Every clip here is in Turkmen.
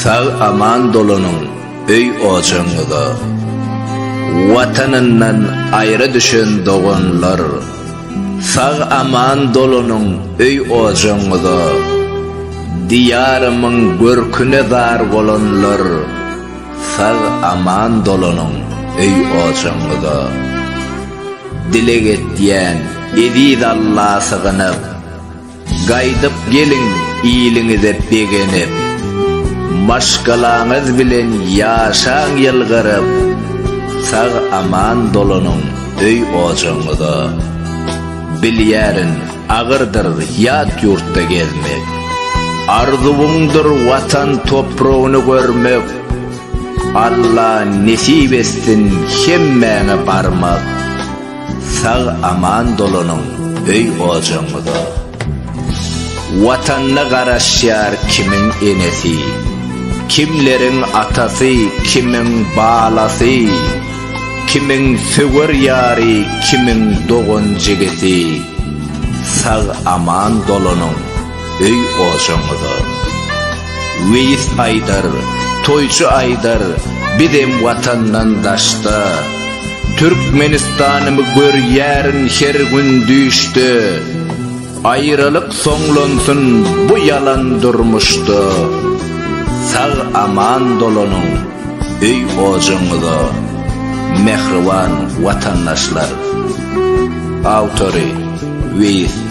Sag aman dolanyň öý ojagyňyza. Watanyndan aýra düşen doganlar. Sag aman dolanyň öý ojagyňyza. Diýarymyň görküne zar bolanlar. Sag aman dolanyň öý ojagyňyza. Dileg etýän eziz Alla sygynyp. Gaýdyp geliň iliňize begenip, Maşgalaňyz bilen ýaşaň ýylgyryp, Sag-aman dolanyň öý-ojagyňyza. Bilýärin, agyrdyr ýat ýurtda gezmek, Arzuwyňdyr Watan topragyny görmek, Alla nesip etsin hemmäňe barmak. Sag aman dolanyň öý ojagyňyza. Watanyna garaşýar kimiň enesi, kimleriň atasy, kimiň balasy, kimiň söwer ýary, kimiň dogan jigisi. Sag aman dolanyň. öý ojaňyza. Weýis aýdar, toýçy aýdar, bizem watandan daşda. Türkmenistanymy görýärin her gün düýşde. Aýralyk soňlansyn bu ýalan durmuşda. Sag aman dolanyň öý ojaňyza. Mähriban watandaşlar. Awtory, Weýis.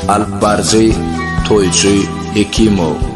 Alypbaryjy, toýçy Hekimow.